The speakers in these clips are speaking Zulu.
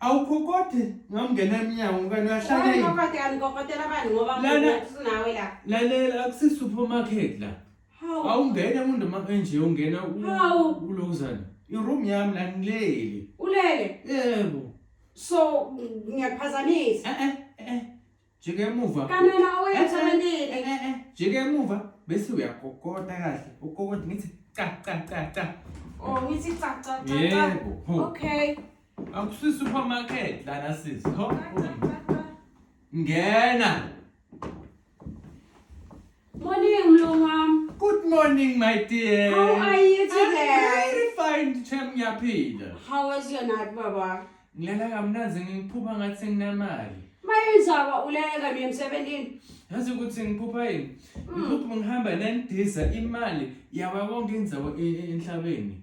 awukhokothi ngamngena emnyango kanti uyahlalelalela akusi-supermarket la awungene umuntu makenje ungena ulokuzana iroom yami la ngilele ulele yebo so ngiyakuphazamisa eh, eh, eh, jika emuva kanina oyenzakalile eh, eh, eh, jika emuva bese uyakokota kahle ukokota ngithi cha cha cha cha oh ngithi cha cha cha yebo okay akusi supermarket lana sisi ho ngena Morning, Mlungwam. Good morning, my dear. How are you I'm today? very fine, Chem ngiyaphila. How was your night, Baba? Ngilala kamnandi ngiphupha ngathi senginamali. Mayenzaba ulele kanye emsebenzini. Yazi ukuthi ngiphupha yini? Ngiphupha ngihamba nendiza imali yawa konke indawo e- e- emhlabeni.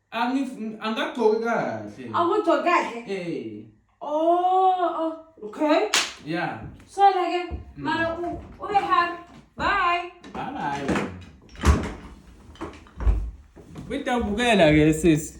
Angif- angagcoki kahle Awugcoki kahle. Eh, Oh, oh, okay. yeah Sola ke. Mara u ube happy. Bye. bye bye witawubukela ke sisi